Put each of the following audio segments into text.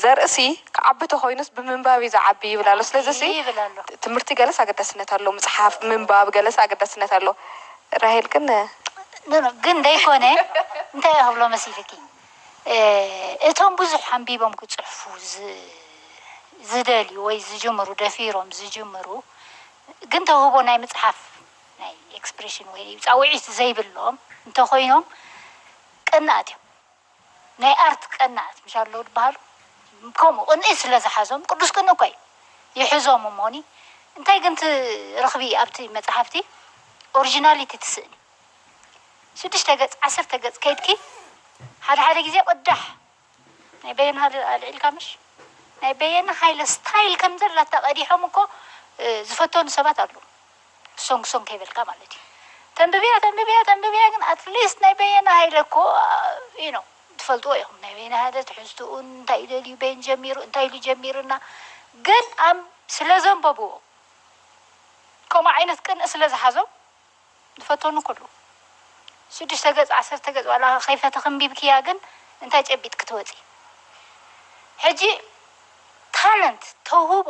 ዘርእሲ ክዓቢ ተኾይኑስ ብምንባብ እዩ ዝዓቢ ይብል ኣሎ ስለዚሲ ትምህርቲ ገለስ ኣገዳስነት ኣለዎ ምጽሓፍ ምንባብ ገለስ ኣገዳስነት ኣለዎ ራሄል ግን። ኖኖ ግን ደይኮነ እንታይ እየ ክብሎ መሲልኪ እቶም ብዙሕ ኣንቢቦም ክጽሕፉ ዝደልዩ ወይ ዝጅምሩ ደፊሮም ዝጅምሩ ግን ተውህቦ ናይ ምጽሓፍ ናይ ኤክስፕሬሽን ወይ ጻውዒት ዘይብሎም እንተኾይኖም ቀናኣት እዮም። ናይ ኣርት ቀናኣት ምሽ ኣለው ድባሃሉ ከምኡ ቅንኢ ስለ ዝሓዞም ቅዱስ ቅንኢ እኳ እዩ ይሕዞም እሞኒ እንታይ ግን እቲ ርክቢ ኣብቲ መጽሓፍቲ ኦርጂናሊቲ ትስእኒ ሽዱሽተ ገጽ ዓሰርተ ገጽ ከይድኪ ሓደ ሓደ ግዜ ቅዳሕ ናይ በየነ ሃለ ኣልዒልካ ምሽ ናይ በየነ ሃይለ ስታይል ከምዘላታ ቀዲሖም እኮ ዝፈተኑ ሰባት ኣለው። ሶንግ ሶንግ ከይበልካ ማለት እዩ ተንብብያ ተንብብያ ተንብብያ ግን ኣትሊስት ናይ በየነ ሃይለ እኮ you know ትፈልጥዎ ኢኹም ናይ በየነ ሃይለ ትሕዝትኡን እንታይ ደልዩ በየን ጀሚሩ እንታይ ኢሉ ጀሚርና ግን ኣም ስለ ዘንበብዎ ከምኡ ዓይነት ቅንኢ ስለ ዝሓዞም ዝፈተኑ እኮ ኣለዉ ሽዱሽተ ገጽ ዓሰርተ ገጽ ዋላ ከይፈተኺ ኣንቢብክያ ግን እንታይ ጨቢጥኪ ትወጺ ሕጂ ታለንት ተውህቦ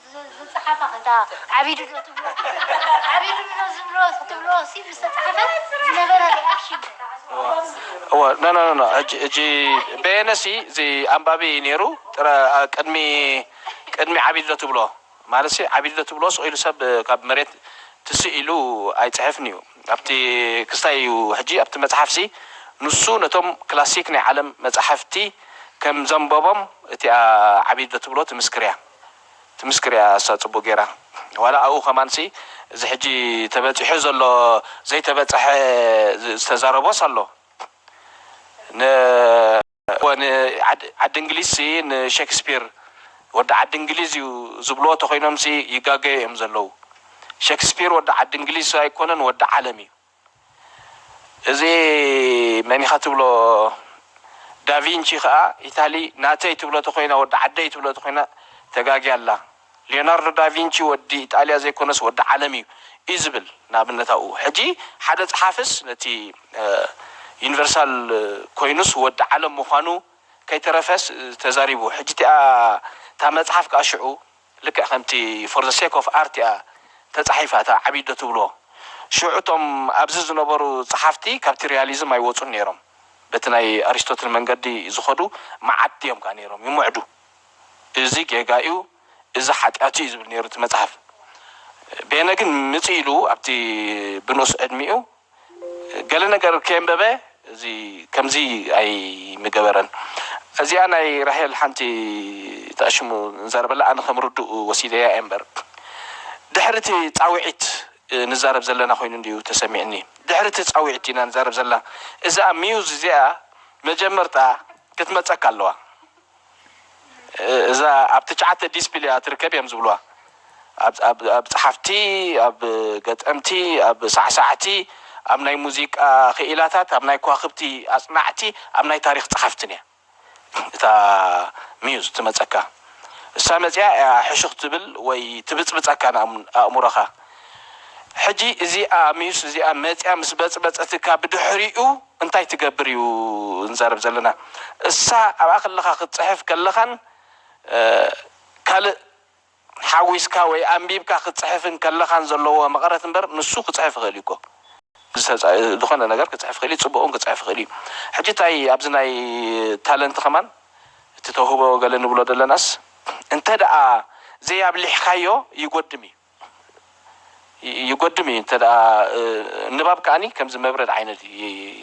ዝጸሓፋ ከንታ ዓቢዱ ዶ ትብሎ ዓቢዱ ዶ ዝብሎ ክትብሎ ሲ ምስ ተጻሓፈ ዝነበረ ሪኣክሽን እወ ኖኖኖኖ እጂ እጂ በየነ ሲ እዚ ኣንባቢ ኔሩ ጥረ ቅድሚ ቅድሚ ዓቢዱ ዶ ትብሎ ማለት ሲ ዓቢዱ ዶ ትብሎ ስቅ ኢሉ ሰብ ካብ መሬት ትስእ ኢሉ ኣይጽሕፍን ኢዩ ኣብቲ ክስታይ ኢዩ ሕጂ ኣብቲ መጽሓፍ ሲ ንሱ ነቶም ክላሲክ ናይ ዓለም መጻሕፍቲ ከም ዘንበቦም እቲኣ ዓቢዱ ዶ ትብሎ ትምስክር ኢያ። ትምስክር እያ እሳ ጽቡቅ ጌራ ዋላ ኣብኡ ከማንሲ እዚ ሕጂ ተበጺሑ ዘሎ ዘይተበጸሐ ዝተዛረቦስ ኣሎ ን እወ ን ዓዲ እንግሊዝሲ ን ሸክስፒር ወዲ ዓዲ እንግሊዝ እዩ ዝብልዎ ተኮይኖምሲ ይጋገዩ እዮም ዘለዉ ሸክስፒር ወዲ ዓዲ እንግሊዝ ኣይኮነን ወዲ ዓለም እዩ። እዚ መን ኢኻ ትብሎ ዳቪንቺ ከኣ ኢታሊ ናተይ ትብሎ ተኾይና ወዲ ዓደይ ትብሎ ተኾይና ተጋግያ ኣላ ሊዮናርዶ ዳቪንቺ ወዲ ኢጣልያ ዘይኮነስ ወዲ ዓለም ኢዩ ኢዩ ዝብል ንኣብነት ኣብኡ ሕጂ ሓደ ጸሓፍስ ነቲ ዩኒቨርሳል ኮይኑስ ወዲ ዓለም ምዃኑ ከይተረፈስ ተዛሪቡ ሕጂ እቲኣ እታ መጽሓፍ ከኣ ሽዑ ልክዕ ከምቲ for the sake of art እያ ተጻሒፋ እታ ዓቢ ኣዶ ትብሎ። ሽዑ እቶም ኣብዚ ዝነበሩ ጸሓፍቲ ካብቲ ሪያሊዝም ኣይወጹን ነይሮም። በቲ ናይ ኣሪስቶትል መንገዲ እዩ ዝኸዱ፣ መዓድቲ እዮም ከኣ ነይሮም፣ ይምዕዱ። እዚ ጌጋ'ዩ፣ እዚ ሓጢኣት'ዩ ዝብል ነይሩ እቲ መጽሓፍ። ቤነ ግን ምጽኢሉ ኣብቲ ብንኡስ ዕድሚኡ ገለ ነገር ከየንበበ እዚ ከምዚ ኣይምገበረን። እዚኣ ናይ ራሄል ሓንቲ ተኣሽሙ ንዛረበላ ኣነ ከም ርዱእ ወሲደያ እየ እምበር ድሕሪ እቲ ጻዊዒት ንዛረብ ዘለና ኮይኑ እንድዩ ተሰሚዕኒ ድሕሪ እቲ ጻዊዒት ኢና ንዛረብ ዘላ እዝኣ ሚውዝ እዚኣ መጀመርታ ክትመጸካ ኣለዋ። እዛ ኣብ ትጭዓተ ዲስፕሊ እያ ትርከብ እዮም ዝብሉዋ ኣብ ኣብ ጸሓፍቲ ኣብ ገጠምቲ ኣብ ሳዕሳዕቲ ኣብ ናይ ሙዚቃ ክኢላታት ኣብ ናይ ኳክብቲ ኣጽናዕቲ ኣብ ናይ ታሪኽ ጸሓፍትን እያ እታ ሚዩዝ ትመጸካ እሳ መጺኣ እያ ሕሹኽ ትብል ወይ ትብጽብጸካ ንኣእምሮኻ ሕጂ እዚኣ ሚዩስ እዚኣ መጺኣ ምስ በጽበጸትካ ብድሕሪኡ እንታይ ትገብር እዩ እንዛረብ ዘለና እሳ ኣብኣ ከለካ ክትጽሕፍ ከለካን ካልእ ሓዊስካ ወይ ኣንቢብካ ክትጽሕፍን ከለካን ዘለዎ መቀረት እምበር ንሱ ክጽሕፍ ይክእል እዩ እኮ ዝኮነ ነገር ክጽሕፍ ይክእል እዩ ጽቡቅ ውን ክጽሕፍ ይክእል እዩ ሕጂ ታይ ኣብዚ ናይ ታለንት ከማን እቲ ተውህቦ ገለ ንብሎ ደለናስ እንተ ደኣ ዘይ ኣብሊሕካዮ ይጎድም እዩ ይጎድም እዩ እንተ ንባብ ከኣ ከምዚ መብረድ ዓይነት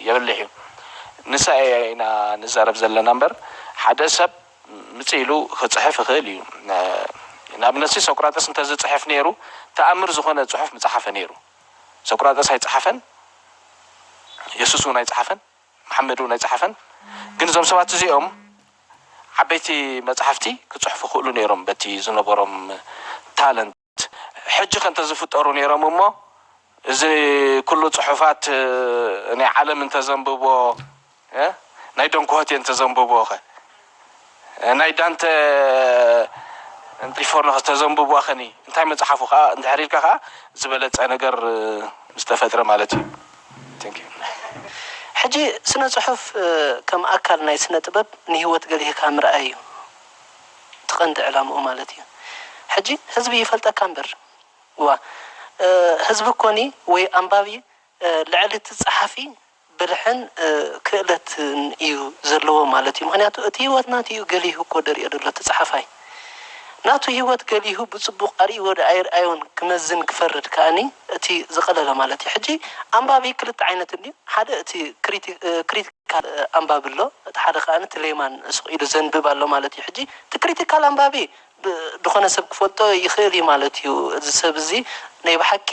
የብልሕ እዩ ንሳ እያ ኢና ንዛረብ ዘለና እምበር ሓደ ሰብ ምጽእ ኢሉ ክጽሕፍ ይኽእል እዩ ንኣብነትሲ ሶቅራጠስ እንተ ዝጽሕፍ ኔሩ ተኣምር ዝኾነ ጽሑፍ ምጸሓፈ ኔሩ ሶቅራጠስ ኣይጸሓፈን የሱስ ውን ኣይጸሓፈን መሓመድ እውን ኣይጸሓፈን ግን እዞም ሰባት እዚኦም ዓበይቲ መጽሓፍቲ ክጽሕፉ ይኽእሉ ኔሮም በቲ ዝነበሮም ታለንት ሕጂኸ እንተዝፍጠሩ ኔሮም እሞ እዚ ኩሉ ጽሑፋት ናይ ዓለም እንተዘንብቦ ናይ ዶንክሆቴ እንተዘንብቦኸ ናይ ዳንተ እንጢፎርኖ ከተዘንብቡዋ ከኒ እንታይ መጽሓፉ ከኣ እንድሕር ኢልካ ከኣ ዝበለጸ ነገር ምስ ተፈጥረ ማለት እዩ። Thank you። ሕጂ ስነ ጽሑፍ ከም ኣካል ናይ ስነ ጥበብ ንህይወት ገሊህካ ምርኣይ እዩ እቲ ቀንዲ ዕላምኡ ማለት እዩ ሕጂ ህዝቢ ይፈልጠካ እምበር እዋ ህዝቢ እኮኒ ወይ ኣንባቢ ልዕሊ እቲ ጸሓፊ ብልሕን ክእለትን እዩ ዘለዎ ማለት እዩ ምክንያቱ እቲ ሂወት ናቱ እዩ ገሊሁ እኮ ደሪኦ ደሎ እቲ ጸሓፋይ ናቱ ሂወት ገሊሁ ብጽቡቅ ኣርኢዎ ድኣ ኣይርኣዮን ክመዝን ክፈርድ ከኣኒ እቲ ዝቀለለ ማለት እዩ ሕጂ ኣንባቢ ክልተ ዓይነት እንድዩ ሓደ እቲ ክሪትካል ኣንባቢ ኣሎ እቲ ሓደ ከኣኒ እቲ ሌማን ስቅ ኢሉ ዘንብብ ኣሎ ማለት እዩ ሕጂ እቲ ክሪትካል ኣንባቢ ድኮነ ሰብ ክፈልጦ ይክእል እዩ ማለት እዩ እዚ ሰብ እዚ ናይ ብሓቂ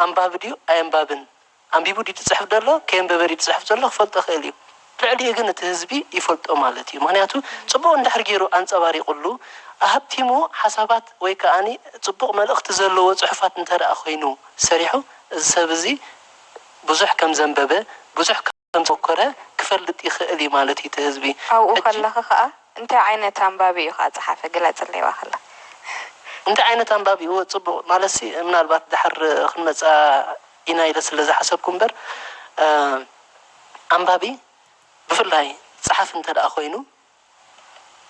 ኣንባቢ ድዩ ኣየንባብን ኣንቢቡ ድዩ ዝጽሕፍ ዘሎ ከየንበበ ድዩ ዝጽሕፍ ዘሎ ክፈልጦ ይኽእል እዩ ልዕሊኡ ግን እቲ ህዝቢ ይፈልጦ ማለት እዩ ምኽንያቱ ጽቡቕ እንድሕር ጌሩ ኣንጸባሪቑሉ ኣሀብቲሙ ሓሳባት ወይ ከኣ ጽቡቕ መልእኽቲ ዘለዎ ጽሑፋት እንተድኣ ኮይኑ ሰሪሑ እዚ ሰብ እዚ ብዙሕ ከም ዘንበበ ብዙሕ ከም ዝሞከረ ክፈልጥ ይኽእል እዩ ማለት እዩ እቲ ህዝቢ ኣብኡ ሕጂ ከለኺ ከኣ እንታይ ዓይነት ኣንባቢ እዩ ከኣ ዝጸሓፈ ግለጽለይ ዋክላ። እንታይ ዓይነት ኣንባቢ እወ ጽቡቕ ማለትሲ ምናልባት ድሓር ክንመጽኣ ኢና ኢለ ስለ ዝሓሰብኩ እምበር ኣንባቢ ብፍላይ ጸሓፊ እንተድኣ ኮይኑ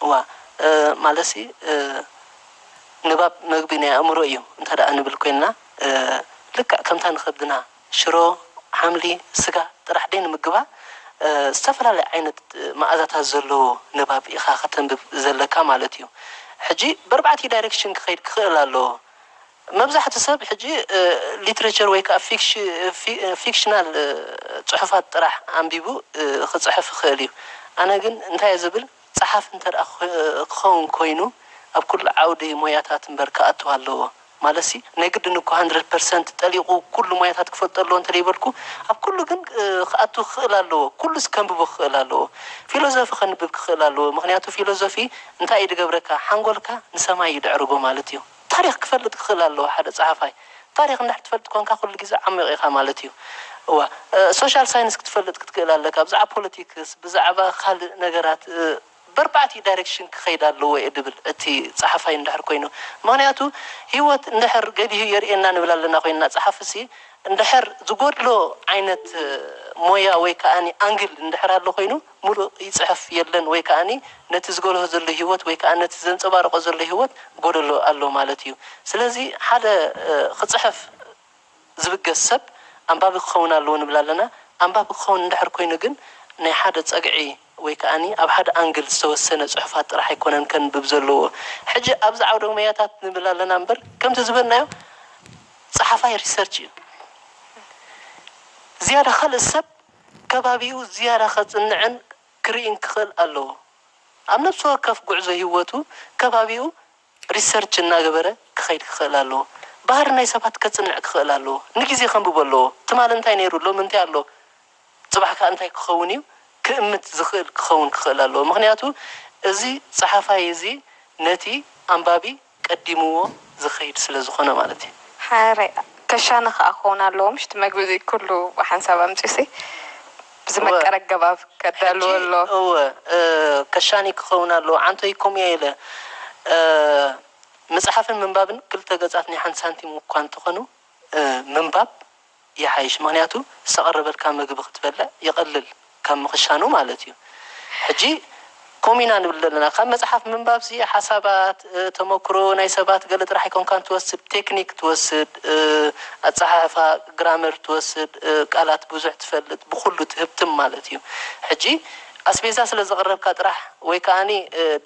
እዋ ማለትሲ ንባብ መግቢ ናይ ኣእምሮ እዩ እንተድኣ ንብል ኮይንና ልክዕ ከምታ ንኸብድና ሽሮ፣ ሓምሊ፣ ስጋ ጥራሕ ደይንምግባ ዝተፈላለየ ዓይነት መኣዛታት ዘለዎ ንባብ ኢኻ ከተንብብ ዘለካ ማለት እዩ። ሕጂ በርባዕቲኡ ዳይረክሽን ክኸይድ ክኽእል ኣለዎ። መብዛሕቱ ሰብ ሕጂ ሊትረቸር ወይ ከኣ ፊክሽናል ጽሑፋት ጥራሕ ኣንቢቡ ክጽሕፍ ይኽእል እዩ። ኣነ ግን እንታይ እየ ዝብል፣ ጸሓፊ እንተድኣ ክኸውን ኮይኑ ኣብ ኩሉ ዓውዲ ሞያታት እምበር ክኣቱ ኣለዎ። ማለትሲ ናይ ግድን እኮ ሃንድረድ ፐርሰንት ጠሊቑ ኩሉ ሞያታት ክፈልጦ ኣለዎ እንተደይበልኩ፣ ኣብ ኩሉ ግን ክኣቱ ክኽእል ኣለዎ። ኩሉስ ከንብቦ ክኽእል ኣለዎ። ፊሎዞፊ ከንብብ ክኽእል ኣለዎ። ምኽንያቱ ፊሎዞፊ እንታይ እዩ ዝገብረካ፣ ሓንጎልካ ንሰማይ እዩ ዘዕርጎ ማለት እዩ። ታሪኽ ክፈልጥ ክኽእል ኣለዎ ሓደ ጸሓፋይ። ታሪኽ እንድሕር ትፈልጥ ኰንካ ኩሉ ግዜ ዓሚቕ ኢኻ ማለት እዩ። እዋ ሶሻል ሳይንስ ክትፈልጥ ክትክእል ኣለካ ብዛዕባ ፖለቲክስ ብዛዕባ ካልእ ነገራት በርባዕቲኡ ዳይረክሽን ክኸይድ ኣለዎ እየ ድብል እቲ ጸሓፋይ እንድሕር ኰይኑ። ምኽንያቱ ህይወት እንድሕር ገዲሁ የርእየና ንብል ኣለና ኰይንና ጸሓፍሲ እንድሕር ዝጐድሎ ዓይነት ሞያ ወይ ከኣ ኣንግል እንድሕር ኣሎ ኰይኑ፣ ምሉእ ይጽሕፍ የለን ወይ ከኣ ነቲ ዝገለሆ ዘሎ ሂወት ወይ ከኣ ነቲ ዘንጸባርቆ ዘሎ ሂወት ጎደሎ ኣሎ ማለት እዩ ስለዚ ሓደ ክጽሕፍ ዝብገስ ሰብ ኣንባቢ ክኸውን ኣለዎ ንብል ኣለና ኣንባቢ ክኸውን እንድሕር ኮይኑ ግን ናይ ሓደ ጸግዒ ወይ ከኣ ኣብ ሓደ ኣንግል ዝተወሰነ ጽሑፋት ጥራሕ ኣይኮነን ከንብብ ዘለዎ ሕጂ ኣብዚ ዓውደ ሞያታት ንብል ኣለና እምበር ከምቲ ዝበልናዮ ጸሓፋይ ሪሰርች እዩ ዝያዳ ካልእ ሰብ ከባቢኡ ዝያዳ ከጽንዕን ክርኢን ክኽእል ኣለዎ። ኣብ ነብሲ ወከፍ ጉዕዞ ሂወቱ ከባቢኡ ሪሰርች እናገበረ ክኸይድ ክኽእል ኣለዎ። ባህሪ ናይ ሰባት ከጽንዕ ክኽእል ኣለዎ። ንግዜ ከንብቦ ኣለዎ። ትማሊ እንታይ ነይሩ ሎሚ እንታይ ኣሎ ጽባሕ ከኣ እንታይ ክኸውን እዩ ክእምት ዝኽእል ክኸውን ክኽእል ኣለዎ። ምኽንያቱ እዚ ጸሓፋይ እዚ ነቲ ኣንባቢ። ቀዲምዎ ዝኸይድ ስለ ዝኾነ ማለት እዩ። ሓረይ ከሻነ ከኣ ክኸውን ኣለዎ ምሽ እቲ መግቢ እዚ ኩሉ ብሓንሳብ ኣምጺኡሲ ብዝመቀረ ኣገባብ ከዳልዎ ኣለዎ። እወ ከሻኒ ክኸውን ኣለዎ ዓንቶይ ከምኡ እየ ኢለ። ምጽሓፍን ምንባብን ክልተ ገጻት ናይ ሓንቲ ሳንቲም እኳ እንተኾኑ ምንባብ ይሓይሽ ምክንያቱ ዝተቀረበልካ ምግቢ ክትበልዕ ይቀልል ካብ ምክሻኑ ማለት እዩ ሕጂ ከምኡ ኢና ንብል ዘለና ካብ መጽሓፍ ምንባብ ሲ ሓሳባት ተመክሮ ናይ ሰባት ገለ ጥራሕ ኣይኮንካን ትወስድ ቴክኒክ ትወስድ ኣጸሓሕፋ ግራመር ትወስድ ቃላት ብዙሕ ትፈልጥ ብኩሉ ትህብትም ማለት እዩ ሕጂ ኣስቤዛ ስለ ዘቅረብካ ጥራሕ ወይ ከኣ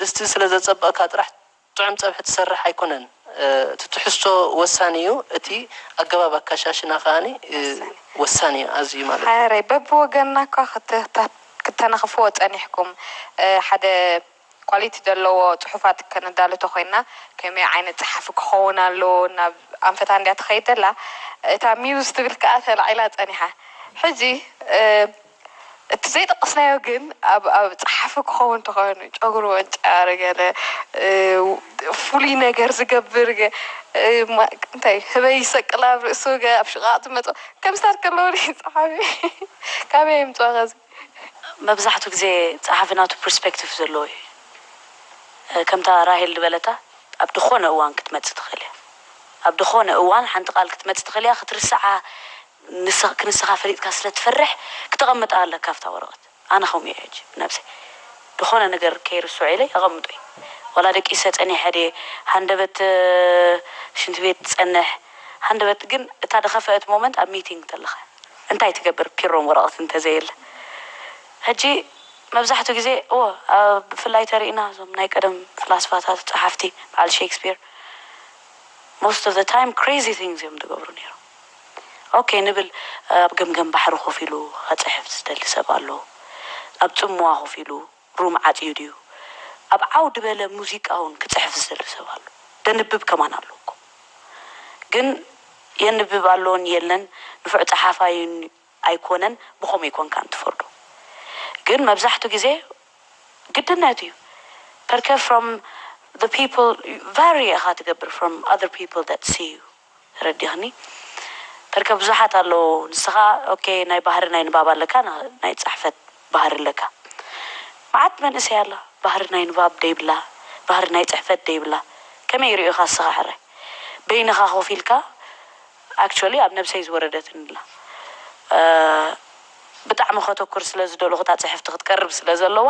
ድስቲ ስለ ዘጸበቅካ ጥራሕ ጥዑም ጸብሒ ትሰርሕ ኣይኮነን እቲ ትሕዝቶ ወሳኒ እዩ እቲ ኣገባብ ኣካሻሽና ከኣ ወሳኒ እዩ ኣዝዩ ማለት እዩ። ሓረሬ በብወገንና እኳ ክተናኽፍዎ ጸኒሕኩም ሓደ ኳሊቲ ዘለዎ ጽሑፋት ከነዳሉ ተኾይንና ከመይ ዓይነት ጸሓፊ ክኸውን ኣለዎ ናብ ኣንፈታ እንድያ ትኸይድ ዘላ እታ ሚውዝ ትብል ከኣ ተላዒላ ጸኒሓ ሕጂ እቲ ዘይጠቀስናዮ ግን ኣብ ኣብ ጸሓፊ ክኸውን ተኾይኑ ጨጉሩ ወንጫር ገለ ፍሉይ ነገር ዝገብር እንታይ ህበይ ይሰቅል ኣብ ርእሱ ኣብ ሽቓቕ ዝመጾ ከምዚታት ከለዉኒ ጸሓፊ ካበይ የምጽኦ ከዚ። መብዛሕቱ ግዜ ጸሓፊ ናቱ ፕርስፐክቲቭ ዘለዎ እዩ ከምታ ራሄል ድበለታ ኣብ ድኾነ እዋን ክትመጽእ ትኽእል እያ ኣብ ድኾነ እዋን ሓንቲ ቃል ክትመጽእ ትኽእል እያ ክትርስዓ ንስኽ ክንስኻ ፈሊጥካ ስለ ትፈርሕ ክተቐምጣ ኣለካ ኣብታ ወረቐት ኣነ ከምኡ እየ ሕጂ ነብሰይ ድኾነ ነገር ከይርስዖ ኢለ የቐምጦ እየ ዋላ ደቂሰ ጸኒሐ ድየ ሃንደበት ሽንቲ ቤት ትጸንሕ ሃንደበት ግን እታ ድኸፈእት ሞመንት ኣብ ሚቲንግ ተለኻ እንታይ ትገብር ፒሮም ወረቐት እንተዘየለ ሕጂ መብዛሕቱ ግዜ እወ ኣብ ብፍላይ ተሪእና እዞም ናይ ቀደም ፍላስፋታት ጸሓፍቲ በዓል ሼክስፒር ሞስት ኦፍ ዘ ታይም ክሬዚ ቲንግስ እዮም ድገብሩ ነይሮም። ኦኬ ንብል ኣብ ገምገም ባሕሪ ኮፍ ኢሉ ከጽሕፍ ዝደሊ ሰብ ኣሎ ኣብ ጽምዋ ኮፍ ኢሉ ሩም ዓጽዩ ድዩ ኣብ ዓው ድበለ ሙዚቃ ውን ክጽሕፍ ዝደሊ ሰብ ኣሎ ደንብብ ከማን ኣሎ እኮ ግን የንብብ ኣሎን የለን ንፉዕ ጸሓፋይ ን ኣይኮነን ብከምኡ ኣይኮንካ ን ትፈርዶ ግን መብዛሕቱ ግዜ ግድነት እዩ ፐርከ from the people vary ኢካ ትገብር from other people that see you። ተረዲኽኒ በርከ ብዙሓት ኣለዉ ንስኻ ok ናይ ባህሪ ናይ ንባብ ኣለካ ናይ ጻሕፈት ባህሪ ኣለካ ማዓት መንእሰይ ኣላ ባህሪ ናይ ንባብ ደይብላ ባህሪ ናይ ጽሕፈት ደይብላ ከመይ ይሪኡኻ እስኻ ሕራይ በይንኻ ኮፍ ኢልካ actually ኣብ ነብሰይ ዝወረደትኒ ኣላ ብጣዕሚ ከተኩር ስለ ዝደለኹ እታ ጽሕፍቲ ክትቀርብ ስለ ዘለዋ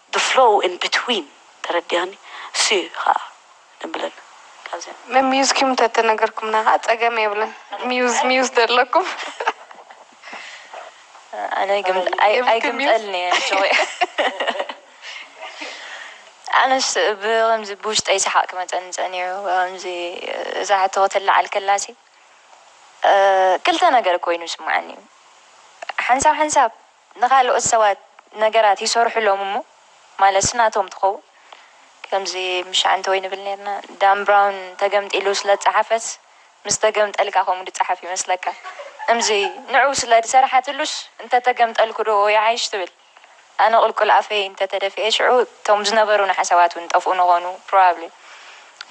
the flow in between ተረዲኣኒ እሱዩ ኸኣ ደምብለል ካብዚኣ። ብ muse ኪም ተተነገርኩምና ከኣ ጸገም የብሉን muse muse ደለኩም። ኣነ ኣይግምጠ ኣይግምጠልን እየ ጆይ ኣነስ ብከምዚ ብውሽጠይ ሰሓቅ ክመጸኒ ጸኒሑ ብከምዚ እዛ ሕቶ ክትለዓል ከላሲ ክልተ ነገር ኮይኑ ይስመዓኒ ሓንሳብ ሓንሳብ ንኻልኦት ሰባት ነገራት ይሰርሑሎም እሞ ማለትስ ናቶም ትኸውን ከምዚ ምሻዕንተወይ ንብል ኔርና ዳን ብራውን ተገምጢሉ ስለ ዝጸሓፈስ ምስ ተገምጠልካ ከምኡ ድጸሓፍ ይመስለካ እምዚ ንዑ ስለ ድሰርሓትሉስ እንተ ተገምጠልኩ ዶ ይዓይሽ ትብል ኣነ ቁልቁል ኣፈይ እንተ ተደፍኤ ሽዑ እቶም ዝነበሩኒ ሓሳባት ውን ይጠፍኡ ንኾኑ ፕሮባብሊ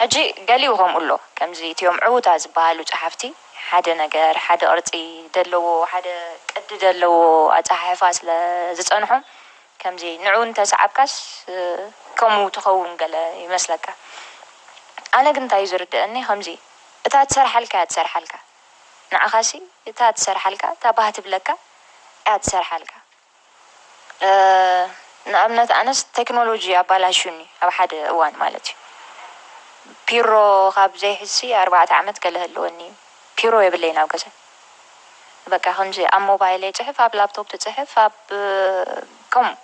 ሕጂ ገሊኡ ከምኡ ኣሎ ከምዚ እቲኦም ዕውታት ዝበሃሉ ጸሓፍቲ ሓደ ነገር ሓደ ቅርጺ ደለዎ ሓደ ቅዲ ደለዎ ኣጸሓሕፋ ስለ ዝጸንሖም ከምዚ ንዑ እንተ ሰዓብካስ ከምኡ ትኸውን ገለ ይመስለካ ኣነ ግን እንታይ እዩ ዝርደኣኒ ከምዚ እታ ትሰርሓልካ እያ ትሰርሓልካ ንዓኻሲ እታ ትሰርሓልካ እታ ባህ ትብለካ እያ ትሰርሓልካ ንኣብነት ኣነስ ተክኖሎጂ ኣባላሽዩኒ ኣብ ሓደ እዋን ማለት እዩ ፒሮ ካብ ዘይሕዝሲ ኣርባዕተ ዓመት ገለ ህልወኒ እዩ ፒሮ የብለይን ኣብ ገዛይ በቃ ከምዚ ኣብ ሞባይለይ ጽሕፍ ኣብ ላፕቶፕ ትጽሕፍ ኣብ ከምኡ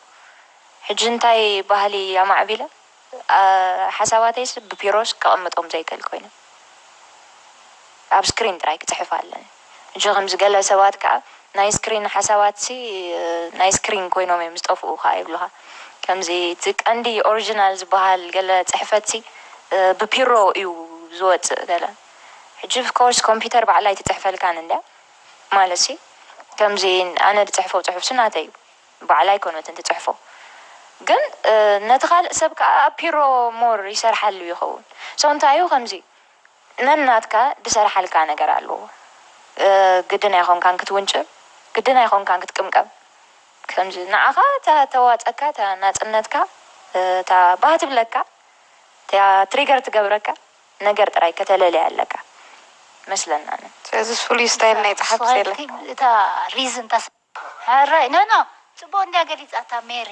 ሕጂ እንታይ ባህሊ ኣማዕቢለ ሓሳባተይስ ብፒሮስ ከቅምጦም ዘይክእል ኮይኑ ኣብ ስክሪን ጥራይ ክጽሕፍ ኣለኒ እጂ ከምዚ ገለ ሰባት ከኣ ናይ ስክሪን ሓሳባትሲ ናይ ስክሪን ኮይኖም እዮም ዝጠፍኡ ከኣ ይብሉኻ ከምዚ እቲ ቀንዲ ኦርጅናል ዝበሃል ገለ ጽሕፈትሲ ብፒሮ እዩ ዝወጽእ ገለ ሕጂ ፍኮርስ ኮምፒተር ባዕላ ኣይትጽሕፈልካን እንድያ ማለትሲ ከምዚ ኣነ ዝጽሕፎ ጽሑፍሲ ናተይ እዩ ባዕላ ኣይኮነትን ትጽሕፎ ግን ነቲ ካልእ ሰብ ከኣ ኣፒሮ ሞር ይሰርሓሉ ይከውን so እንታይ እዩ ከምዚ ነናትካ ድሰርሓልካ ነገር ኣለዎ ግድን ኣይኮንካን ክትውንጭል ግድን ኣይኮንካን ክትቅምቀም ከምዚ ንዓካ እታ ተዋጸካ እታ ናጽነትካ እታ ባህ ትብለካ እቲኣ ትሪገር ትገብረካ ነገር ጥራይ ከተለሊ ኣለካ መስለናንን ስለዚ ፍሉይ ስታይል ናይ ጸሓፍቲ የለን። እታ ሪዝን እታ። ሕራይ ኖ ኖ ጽቡቅ እንድያ ገሊጻታ ሜሪ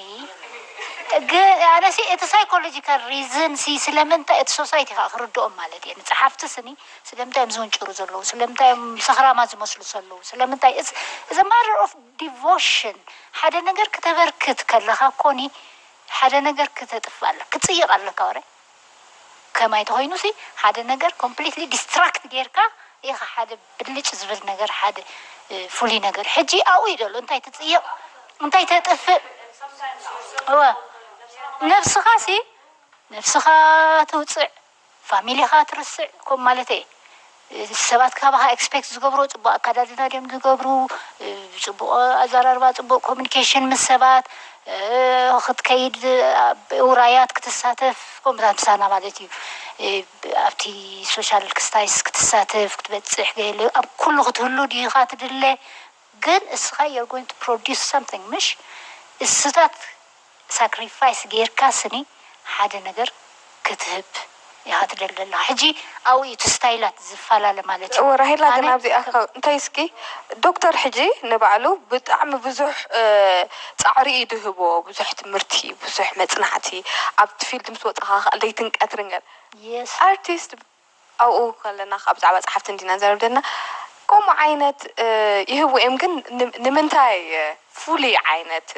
ግን ኣነሲ እቲ ሳይኮሎጂካል ሪዝን ሲ ስለምንታይ እቲ ሶሳይቲ ከኣ ክርድኦም ማለት እየ ንጸሓፍቲ ስኒ ስለምንታይ እዮም ዝውንጭሩ ዘለዉ ስለምንታይ እዮም ሰኽራማት ዝመስሉ ሰለዉ ስለምንታይ እትስ እዝ እ ማተር ኦፍ ዲቮሽን ሓደ ነገር ክተበርክት ከለኻ ኮኒ ሓደ ነገር ክተጥፍእ ኣለካ ክትጽይቅ ኣለካ ወረ ከማይ ተኾይኑሲ ሓደ ነገር ኮምፕሊትሊ ዲስትራክት ጌርካ ኢኻ ሓደ ብልጭ ዝብል ነገር ሓደ ፍሉይ ነገር ሕጂ ኣብኡ እዩ ዘሎ እንታይ ትጽይቕ እንታይ ተጥፍእ እወ ነብስኻሲ ነብስኻ ትውጽዕ ፋሚሊኻ ትርስዕ ከምኡ ማለተይ እየ ሰባት ካባኻ ኤክስፔክት ዝገብርዎ ፅቡቕ ኣከዳድና ድዮም ዝገብሩ፣ ፅቡቕ ኣዘራርባ፣ ፅቡቕ ኮሙኒኬሽን ምስ ሰባት፣ ክትከይድ ኣብ ውራያት ክትሳተፍ ከምኡታት ምሳና ማለት እዩ ኣብቲ ሶሻል ክስታይስ ክትሳተፍ ክትበፅሕ ገለ ኣብ ኩሉ ክትህሉ ድኻ ትድለ፣ ግን እስኻ you're going to produce something ምሽ እስታት ሳክሪፋይስ ገይርካ ስኒ ሓደ ነገር ክትህብ ኢኻ ትደሊ ዘለኻ ሕጂ ኣብኡ እዩ እቲ ስታይላት ዝፋላለ ማለት እዩ እወ ራሄላ ግን ኣነ ኣብዚኣ ከም ካብ እንታይ እስኪ ዶክተር ሕጂ ንባዕሉ ብጣዕሚ ብዙሕ ጻዕሪ እዩ ድህቦ ብዙሕ ትምህርቲ ብዙሕ መጽናዕቲ ኣብቲ ፊልድ ምስ ወጻኻ ክኣ ለይትን ቀትርን ገለ Yes ኣርቲስት ኣብኡ ከለና ከኣ ብዛዕባ ጸሓፍቲ እንዲና ንዛረብ ዘለና ከምኡ ዓይነት ይህቡ እዮም ግን ንምንታይ ፍሉይ ዓይነት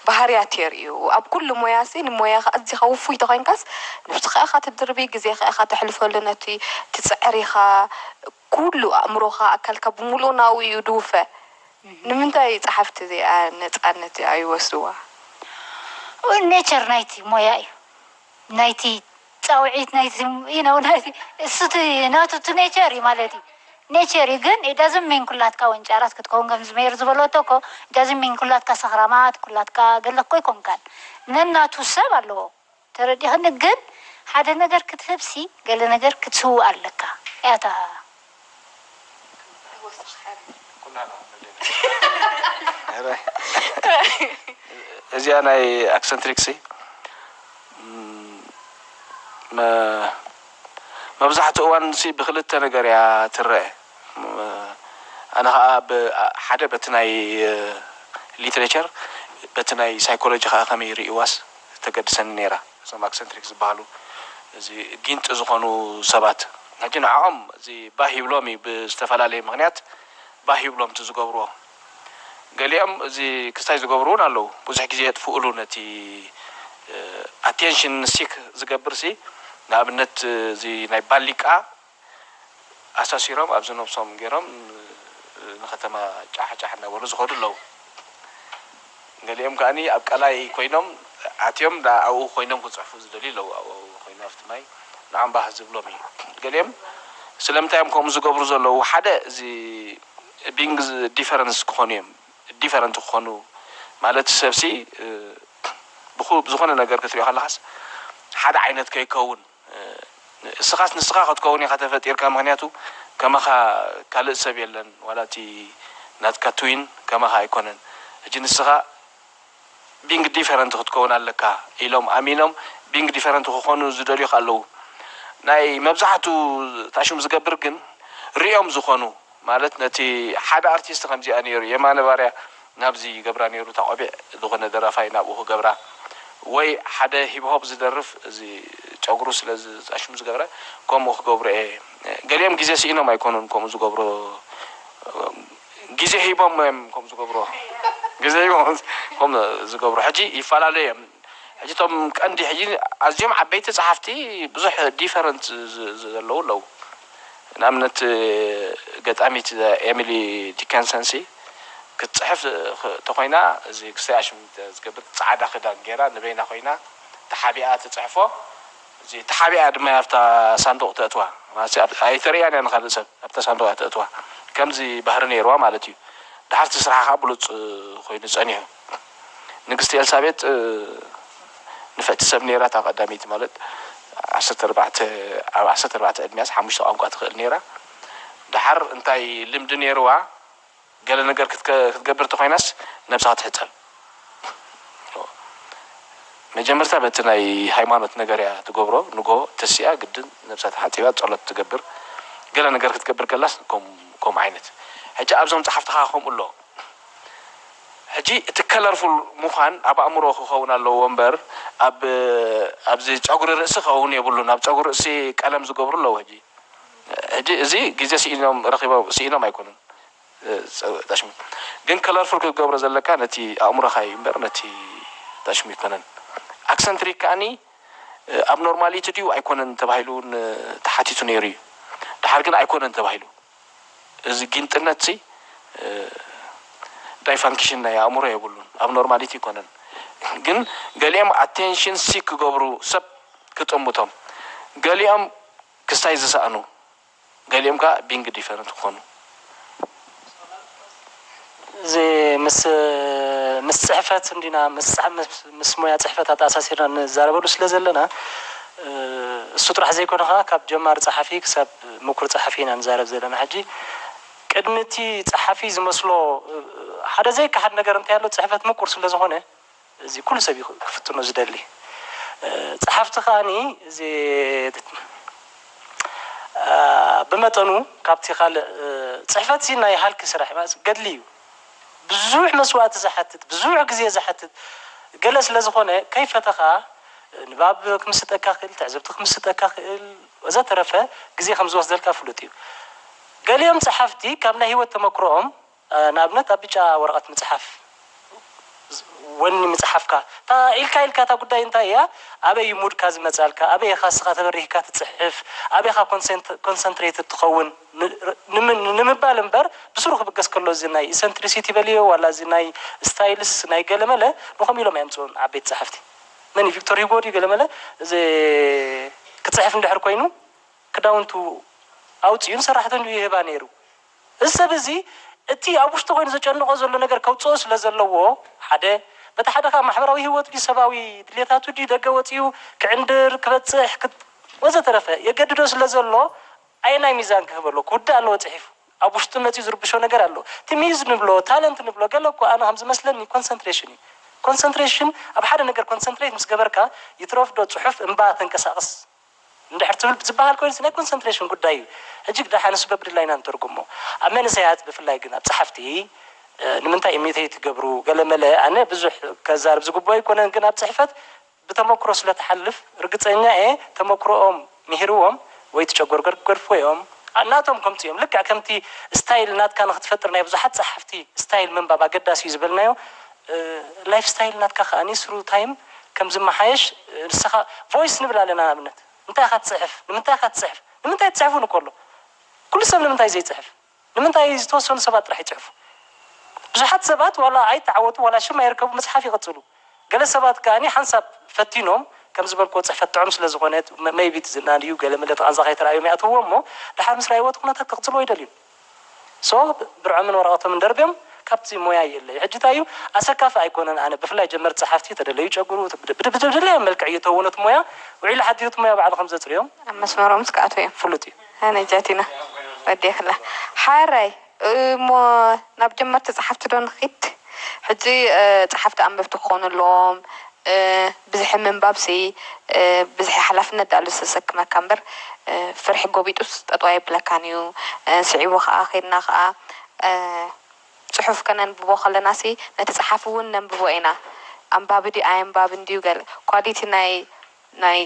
ባህርያት የርእዩ ኣብ ኩሉ ሞያሲ ንሞያኻ ኣዚኻ ውፉይ ተኾይንካስ ንብስኻ ኢኻ ትድርቢ ግዜኻ ኢኻ ተሕልፈሉ ነቲ ትጽዕር ኢኻ ኩሉ ኣእምሮኻ ኣካልካ ብምሉኡ ናብኡ እዩ ድውፈ ንምንታይ ጸሓፍቲ እዚኣ ነጻነት እዚኣ ይወስድዋ? ኔቸር ናይቲ ሞያ እዩ ናይቲ ጻውዒት ናይቲ you know ናይቲ እሱ እቲ ናቱ እቲ ኔቸር እዩ ማለት እዩ ኔቸር እዩ ግን it doesn't mean ኩላትካ ወንጫራት ክትከውን ከምዚ ሜሪ ዝበለቶ እኮ it doesn't mean ኩላትካ ሰኽራማት ኩላትካ ገለ እኮ ኣይኮንካን ነናቱ ሰብ ኣለዎ ተረዲክኒ ግን ሓደ ነገር ክትህብሲ ገለ ነገር ክትስውእ ኣለካ እያ እታ እዚኣ ናይ ኣክሰንትሪክ ሲ መብዛሕትኡ እዋን ሲ ብክልተ ነገር እያ ትረኣ ኣነ ከኣ ብ ሓደ በቲ ናይ ሊትሬቸር በቲ ናይ ሳይኮሎጂ ከኣ ከመይ ይርእይዋስ ተገድሰኒ ነይራ እዞም ኣክሰንትሪክ ዝባሃሉ እዚ ጊንጢ ዝኾኑ ሰባት ሕጂ ንዐኦም እዚ ባህ ይብሎም እዩ ብዝተፈላለየ ምኽንያት ባህ ይብሎም እቲ ዝገብርዎ ገሊኦም እዚ ክስታይ ዝገብሩ ውን ኣለዉ ብዙሕ ግዜ የጥፍእሉ ነቲ ኣቴንሽን ሲክ ዝገብር ሲ ንኣብነት እዚ ናይ ባሊቃ ኣሳሲሮም ኣብዚ ነብሶም ገሮም ንከተማ ጫሕ ጫሕ እናበሉ ዝከዱ ኣለዉ ገሊኦም ከኣ ኣብ ቀላይ ኮይኖም ኣትዮም ደኣ ኣብኡ ኮይኖም ክጽሕፉ ዝደልዩ ኣለዉ ኣብኡ ኮይኑ ኣብቲ ማይ ንኣምባህ ዝብሎም እዩ ገሊኦም ስለምንታይ እዮም ከምኡ ዝገብሩ ዘለዉ ሓደ እዚ ቢንግ ዲፈረንስ ክኮኑ እዮም ዲፈረንት ክኮኑ ማለት ሰብሲ ብዝኮነ ነገር ክትሪኦ ከለካስ ሓደ ዓይነት ከይከውን። እስኻስ ንስኻ ክትከውን ኢኻ ተፈጢርካ ምኽንያቱ ከማኻ ካልእ ሰብ የለን ዋላ እቲ ናትካ ትዊን ከማኻ ኣይኮነን ሕጂ ንስኻ ቢንግ ዲፈረንት ክትከውን ኣለካ ኢሎም ኣሚኖም ቢንግ ዲፈረንት ክኾኑ ዝደልዩኻ ኣለዉ ናይ መብዛሕቱ ታሹም ዝገብር ግን ሪኦም ዝኾኑ ማለት ነቲ ሓደ ኣርቲስት ከምዚኣ ኔሩ የማነ ባርያ ናብዚ ይገብራ ኔሩ እታ ቆቢዕ ዝኮነ ደራፋይ ናብኡ ክገብራ ወይ ሓደ ሂብሆብ ዝደርፍ እዚ ጨጉሩ ስለ ዝጣሽሙ ዝገብረ ከምኡ ክገብሩ እየ ገሊኦም ግዜ ሲኢኖም ኣይኮኑን ከምኡ ዝገብሩ ግዜ ሂቦም እዮም ከምኡ ዝገብሩ ግዜ ሂቦም ከምኡ ዝገብሩ ሕጂ ይፈላለዩ እዮም ሕጂ እቶም ቀንዲ ሕጂ ኣዝዮም ዓበይቲ ጸሓፍቲ ብዙሕ ዲፈረንት ዘለዉ ኣለዉ ንኣብነት ገጣሚት ኤሚሊ ዲከንሰንሲ ክትጽሕፍ ተኾይና እዚ ክስታይ ኣሽሚት ዝገብር ጻዕዳ ክዳን ጌራ ንበይና ኮይና ተሓቢኣ ትጽሕፎ እዚ ተሓቢኣ ድማ እያ ኣብታ ሳንዱቕ ተእትዋ ማለት ኣይተርእያን እያ ንኻልእ ሰብ ኣብታ ሳንዱቕ እያ ተእትዋ ከምዚ ባህሪ ኔርዋ ማለት እዩ ደሓር እቲ ስርሓ ከኣ ብሉጽ ኮይኑ ጸኒሑ። ንግስቲ ኤልሳቤጥ ንፍዕቲ ሰብ ነይራ፣ እታ ቀዳመይቲ ማለት ዓሰርተ ኣርባዕተ ኣብ ዓሰርተ ኣርባዕተ ዕድሚኣስ ሓሙሽተ ቋንቋ ትኽእል ነይራ። ደሓር እንታይ ልምዲ ነይርዋ ገለ ነገር ክትገብር እንተኾይናስ ነብሳ ክትሕጸብ መጀመርታ በቲ ናይ ሃይማኖት ነገርያ ትገብሮ ንግሆ ተሲኣ ግድን ነብሳ ተሓጺባ ጸሎት ትገብር ገለ ነገር ክትገብር ከላስ ከምኡ ዓይነት ሕጂ ኣብዞም ጸሓፍትኻ ከምኡ ኣሎ። ሕጂ እቲ ከለርፉል ሙኻን ኣብ ኣእምሮ ክኸውን ኣለዎ እምበር ኣብ ኣብዚ ጨጉሪ ርእሲ ክኸውን የብሉን ኣብ ጨጉሪ ርእሲ ቀለም ዝገብሩ ኣለዉ ሕጂ ሕጂ እዚ ግዜ ሲኢኖም ረኺቦም ሲኢኖም ኣይኮኑን ጣሽሚ ግን ከለርፉል ክትገብሮ ዘለካ ነቲ ኣእምሮኻ እዩ እምበር ነቲ ጣሽሚ ኣይኮነን ኣክሰንትሪክ ከኣኒ ኣብ ኖርማሊቲ ድዩ ኣይኮነን ተባሂሉ ውን ተሓቲቱ ነይሩ እዩ ደሓር ግን ኣይኮነን ተባሂሉ እዚ ጊንጥነት'ዚ ዳይፋንክሽን ናይ ኣእምሮ የብሉን ኣብኖርማሊቲ ኣይኮነን ግን ገሊኦም ኣቴንሽን ሲክ ክገብሩ ሰብ ክጥምቶም ገሊኦም ክስታይ ዝሰእኑ ገሊኦም ከኣ ቢንግ ዲፈረንት ክኾኑ። እዚ ምስ ምስ ጽሕፈት እንዲና ምስጻሕ ምስ ሞያ ጽሕፈት ኣተኣሳሲርና ንዛረበሉ ስለ ዘለና እሱ ጥራሕ ዘይኮነ ከኣ ካብ ጀማሪ ጸሓፊ ክሳብ ምኩር ጸሓፊ ኢና ንዛረብ ዘለና ሕጂ ቅድሚ እቲ ጸሓፊ ዝመስሎ ሓደ ዘይከሓድ ነገር እንታይ ኣሎ ጽሕፈት ምቁር ስለ ዝኾነ እዚ ኩሉ ሰብ እዩ ክፍትኖ ዝደሊ ጸሓፍቲ ከኣ እዚ ብመጠኑ ካብቲ ካልእ ጽሕፈትሲ ናይ ሃልኪ ስራሕ ማለት ገድሊ እዩ ብዙሕ መስዋእቲ ዝሓትት ብዙሕ ግዜ ዝሓትት ገለ ስለ ዝኾነ ከይፈተኻ ንባብ ክምስጠካ ይኽእል ትዕዝብቲ ክምስጠካ ይኽእል ወዘተረፈ ግዜ ከም ዝወስደልካ ፍሉጥ እዩ ገሊኦም ጸሓፍቲ ካብ ናይ ሂወት ተመክሮኦም ንኣብነት ኣብ ብጫ ወረቐት ምጽሓፍ፣ ወኒ ምጽሓፍካ፣ እታ ኢልካ ኢልካ እታ ጉዳይ እንታይ እያ፣ ኣበይ እዩ ሙድካ ዝመጻልካ፣ ኣበይ ኢኻ ንስኻ ተበሪህካ ትጽሕፍ፣ ኣበይ ኢኻ ኮንሰንትሬትድ ትኸውን ንምባል እምበር ብስሩ ክብገስ ከሎ እዚ ናይ ኢሰንትሪሲቲ በልዮ ዋላ እዚ ናይ ስታይልስ ናይ ገለመለ ንከምኡ ኢሎም ኣየምጽኡን ዓበይቲ ጸሓፍቲ መን እዩ ቪክቶር ሂጎ ድዩ ገለመለ እዚ ክጽሕፍ እንድሕር ኮይኑ ክዳውንቱ ኣውጺኡን ሰራሕተንኡ ይህባ ነይሩ እዚ ሰብ እዚ እቲ ኣብ ውሽጡ ኮይኑ ዘጨንቖ ዘሎ ነገር ከውጽኦ ስለ ዘለዎ ሓደ በቲ ሓደ ከኣ ማሕበራዊ ህይወት ድዩ ሰባዊ ድሌታቱ ድዩ ደገ ወጺኡ ክዕንድር ክበጽሕ ክት ወዘተረፈ የገድዶ ስለ ዘሎ ኣየናይ ሚዛን ክህቦ ኣለዎ ክውዳእ ኣለዎ ጽሒፉ ኣብ ውሽጡ መጺኡ ዝርብሾ ነገር ኣሎ እቲ ሚዩዝ ንብሎ ታለንት ንብሎ ገለ እኮ ኣነ ከም ዝመስለኒ ኮንሰንትሬሽን እዩ ኮንሰንትሬሽን ኣብ ሓደ ነገር ኮንሰንትሬት ምስ ገበርካ ይትረፍዶ ጽሑፍ እምባ ተንቀሳቕስ እንድሕር ትብል ዝበሃል ኮይኑስ ናይ ኮንሰንትሬሽን ጉዳይ እዩ። ሕጂ ግዳ ሓንስ በብድላይ ኢና ንተርጉሞ። ኣብ መንእሰያት ብፍላይ ግን ኣብ ጸሓፍቲ ንምንታይ ኢሚተይት ይገብሩ ገለመለ ኣነ ብዙሕ ከዛርብ ዝግብኦ ኣይኮነን ግን ኣብ ጽሕፈት ብተመኩሮ ስለ ትሓልፍ ርግጸኛ እየ ተመኩሮኦም ምሂርዎም ወይ ትጨጎርገር ክገድፍዎ እዮም ናቶም ከምጽኡ እዮም ልክዕ ከምቲ ስታይል ናትካ ንክትፈጥር ናይ ብዙሓት ጸሓፍቲ ስታይል ምንባብ ኣገዳሲ እዩ ዝበልናዮ ላይፍ ስታይል ናትካ ከኣ ስሩ ታይም ከም ዝመሓየሽ ንስኻ ቮይስ ንብል ኣለና ንኣብነት እንታይ ኢኻ ትጽሕፍ ንምንታይ ኢኻ ትጽሕፍ ንምንታይ ትጽሕፉ ንኮ ኣሎ ኩሉ ሰብ ንምንታይ ዘይጽሕፍ ንምንታይ ዝተወሰኑ ሰባት ጥራሕ ይጽሕፉ ብዙሓት ሰባት ዋላ ኣይተዓወቱ ዋላ ሽም ኣይርከቡ ምጽሓፍ ይቕጽሉ ገለ ሰባት ከኣ ሓንሳብ ፈቲኖም ከም ዝበልክዎ ጽሕፈት ጥዑም ስለ ዝኾነ መይቢ እቲ ዝናድዩ ገለ መለ እቲ ቓንዛ ከይተራእዮም ይኣትውዎ እሞ ደሓር ምስ ረኣይዎ እቲ ኩነታት ክቕጽልዎ ኣይደልዩን። so ብርዖምን ወረቀቶምን ደርብዮም ካብቲ ሞያ ይእለዩ ሕጂ ታይ እዩ ኣሰካፊ ኣይኮነን ኣነ ብፍላይ ጀመርቲ ጸሓፍቲ ተደለዩ ጨጉሩ ብደለዮም መልክዕ ይተውኖ እቲ ሞያ ውዒሉ ሓዲሩ እቲ ሞያ ባዕሉ ከም ዘጽርዮ ኣብ መስመሮም ምስ ክኣትዉ እዮም ፍሉጥ እዩ። ኣነ ጃቲና ወዲክላ ሓራይ እሞ ናብ ጀመርቲ ጸሓፍቲ ዶ ንኪድ ሕጂ ጸሓፍቲ ኣንበብቲ ክኮኑ ኣለዎም። ብዝሒ ምንባብሲ ብዝሒ ሓላፍነት ድኣሉ ዘሰክመካ እምበር ፍርሒ ጎቢጡስ ጠጠው ኣየብለካን እዩ ስዒቡ ከኣ ኬድና ከኣ ጽሑፍ ከነንብቦ ከለናሲ ነቲ ጸሓፊ ውን ነንብቦ ኢና ኣንባቢ ድዩ ኣየንባብን ድዩ ገለ ኳሊቲ ናይ ናይ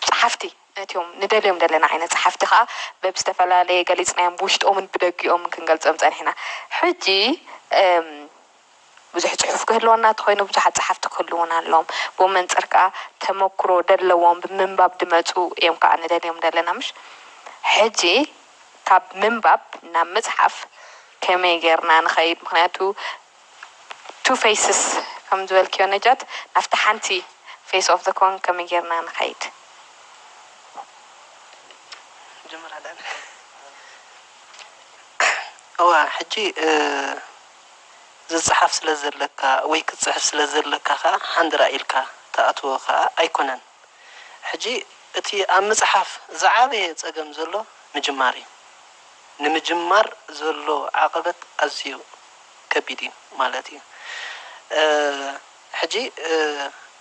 ጸሓፍቲ ነትዮም ንደልዮም ዘለና ዓይነት ጸሓፍቲ ከኣ በብዝተፈላለየ ገሊጽናዮም ብውሽጦምን ብደጊኦምን ክንገልጾም ጸኒሕና ሕጂ ብዙሕ ጽሑፍ ክህልወና እንተኾይኑ ብዙሓት ጸሓፍቲ ክህልዉና ኣለዎም ብመንጽር ከኣ ተመኩሮ ደለዎም ብምንባብ ድመጹ እዮም ከኣ ንደልዮም ደለና ምሽ ሕጂ ካብ ምንባብ ናብ ምጽሓፍ ከመይ ጌርና ንኸይድ ምኽንያቱ ቱ ፈይስስ ከም ዝበልክዮ ነጃት ናብቲ ሓንቲ ፈይስ ኦፍ ዘ ኮን ከመይ ጌርና ንኸይድ። እወ ሕጂ። ዝጸሓፍ ስለ ዘለካ ወይ ክትጽሕፍ ስለ ዘለካ ከኣ ሓንድራ ኢልካ ትኣትዎ ከኣ ኣይኮነን። ሕጂ እቲ ኣብ ምጽሓፍ ዝዓበየ ጸገም ዘሎ ምጅማር እዩ። ንምጅማር ዘሎ ዓቐበት ኣዝዩ ከቢድ እዩ ማለት እዩ። ሕጂ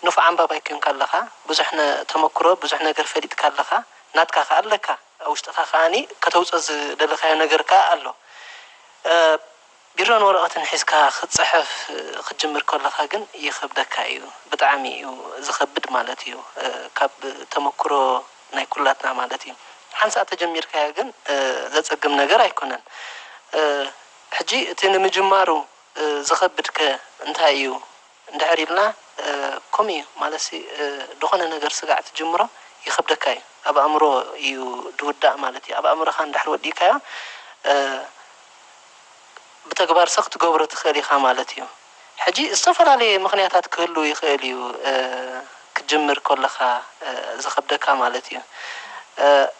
ንፉዕ ኣንባባይ ኴንካ ኣለኻ፣ ብዙሕ ተመኩሮ ብዙሕ ነገር ፈሊጥካ ኣለኻ፣ ናትካ ከኣ ኣለካ፣ ኣብ ውሽጥኻ ከኣ ከተውጾ ዝደለኻዮ ነገር ከኣ ኣሎ። ቢሮን ወረቀትን ሒዝካ ክትጽሕፍ ክትጅምር ከለካ ግን ይከብደካ ኢዩ ብጣዕሚ ኢዩ ዝከብድ ማለት ኢዩ ካብ ተመኩሮ ናይ ኩላትና ማለት ኢዩ ሓንሳእ ተጀሚርካዮ ግን ዘጸግም ነገር ኣይኮነን ሕጂ እቲ ንምጅማሩ ዝከብድ ከ እንታይ ኢዩ እንድሕር ኢልና ከምኡ እዩ ማለትሲ ድኾነ ነገር ስጋዕ ትጅምሮ ይኸብደካ እዩ ኣብ ኣእምሮ እዩ ድውዳእ ማለት እዩ ኣብ ኣእምሮኻ እንድሕር ወዲእካዮ ብተግባር ስኽ ትገብሮ ትኽእል ኢኻ ማለት እዩ ሕጂ ዝተፈላለየ ምኽንያታት ክህልው ይኽእል እዩ ክትጅምር ከለኻ ዝኸብደካ ማለት እዩ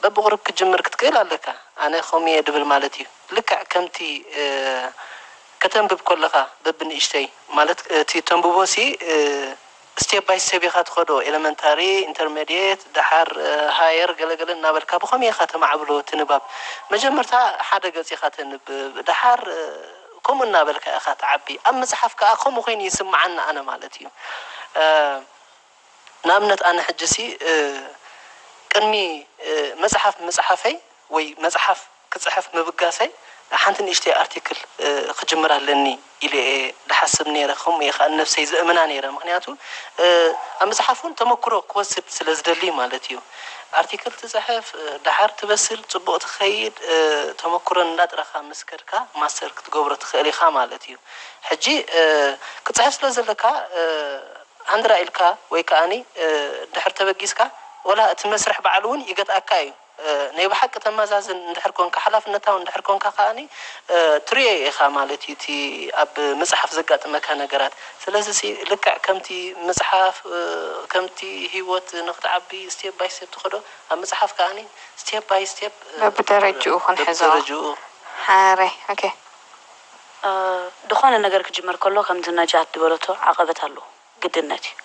በብቑሩብ ክትጅምር ክትክእል ኣለካ ኣነ ከምኡ እየ ድብል ማለት እዩ ልክዕ ከምቲ ከተንብብ ከለኻ በብንእሽተይ ማለት እቲ ተንብቦሲ ስቴፕ ባይ ስቴፕ ኢኻ ትኸዶ ኤለመንታሪ ኢንተርመድየት ደሓር ሃየር ገለ ገለ እናበልካ ብኸምይ ኢኻ ተማዕብሎ እቲ ንባብ መጀመርታ ሓደ ገጽ ኢኻ ተንብብ ደሓር ከምኡ እናበልካ ኢኻ ትዓቢ ኣብ ምጽሓፍ ከኣ ከምኡ ኮይኑ ይስምዓኒ ኣነ ማለት እዩ። ንኣብነት ኣነ ሕጂሲ ቅድሚ መጽሓፍ ምጽሓፈይ ወይ መጽሓፍ ክጽሕፍ ምብጋሰይ ሓንቲ ንእሽተይ ኣርቲክል ክጅምር ኣለኒ ኢለ እየ ዝሓስብ ነይረ ከምኡ እየ ከኣ ንነብሰይ ዘእምና ነይረ ምኽንያቱ ኣብ ምጽሓፍ ውን ተመክሮ ክወስድ ስለ ዝደሊ ማለት እዩ ኣርቲክል ትጽሕፍ ደሓር ትበስል ጽቡቕ ትኸይድ ተመክሮ እንዳጥረኻ ምስ ከድካ ማስተር ክትገብሮ ትኽእል ኢኻ ማለት እዩ ሕጂ ክትጽሕፍ ስለ ዘለካ ሃንድራ ኢልካ ወይ ከኣ እንድሕር ተበጊስካ ወላ እቲ መስርሕ ባዕሉ እውን ይገትኣካ ኢዩ። ናይ ብሓቂ ተማዛዝን እንድሕር ኮንካ ሓላፍነታዊ እንድሕር ኮንካ ከኣ ትርእዮ ኢኻ ማለት ኢዩ እቲ ኣብ ምጽሓፍ ዘጋጥመካ ነገራት። ስለዚሲ ልክዕ ከምቲ ምጽሓፍ ከምቲ ህይወት ንኽትዓቢ ስቴፕ ባይ ስቴፕ ትኸዶ ኣብ ምጽሓፍ ከኣ ስቴፕ ባይ ስቴፕ በብደረጅኡ ክንሕዞ በብደረጅኡ ሓረግ። ድኾነ ነገር ክጅመር ከሎ ከምቲ ነጃት ድበለቶ ዓቐበት ኣለዎ ግድነት እዩ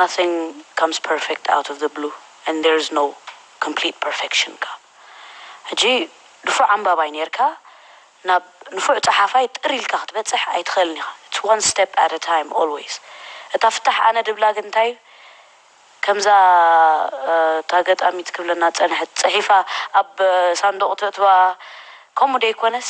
nothing comes perfect out of the blue and there is no complete perfection ከኣ ሕጂ ንፉዕ ኣንባባይ ኔርካ ናብ ንፉዕ ጸሓፋይ ጥር ኢልካ ክትበጽሕ ኣይትኽእልን ኢኻ it's one step at a time always እታ ፍታሕ ኣነ ድብላ ግን እንታይ ከምዛ እታ ገጣሚት ክብለና ዝጸንሐት ጽሒፋ ኣብ ሳንዱቕ ተእትዋ ከምኡ ደይኮነስ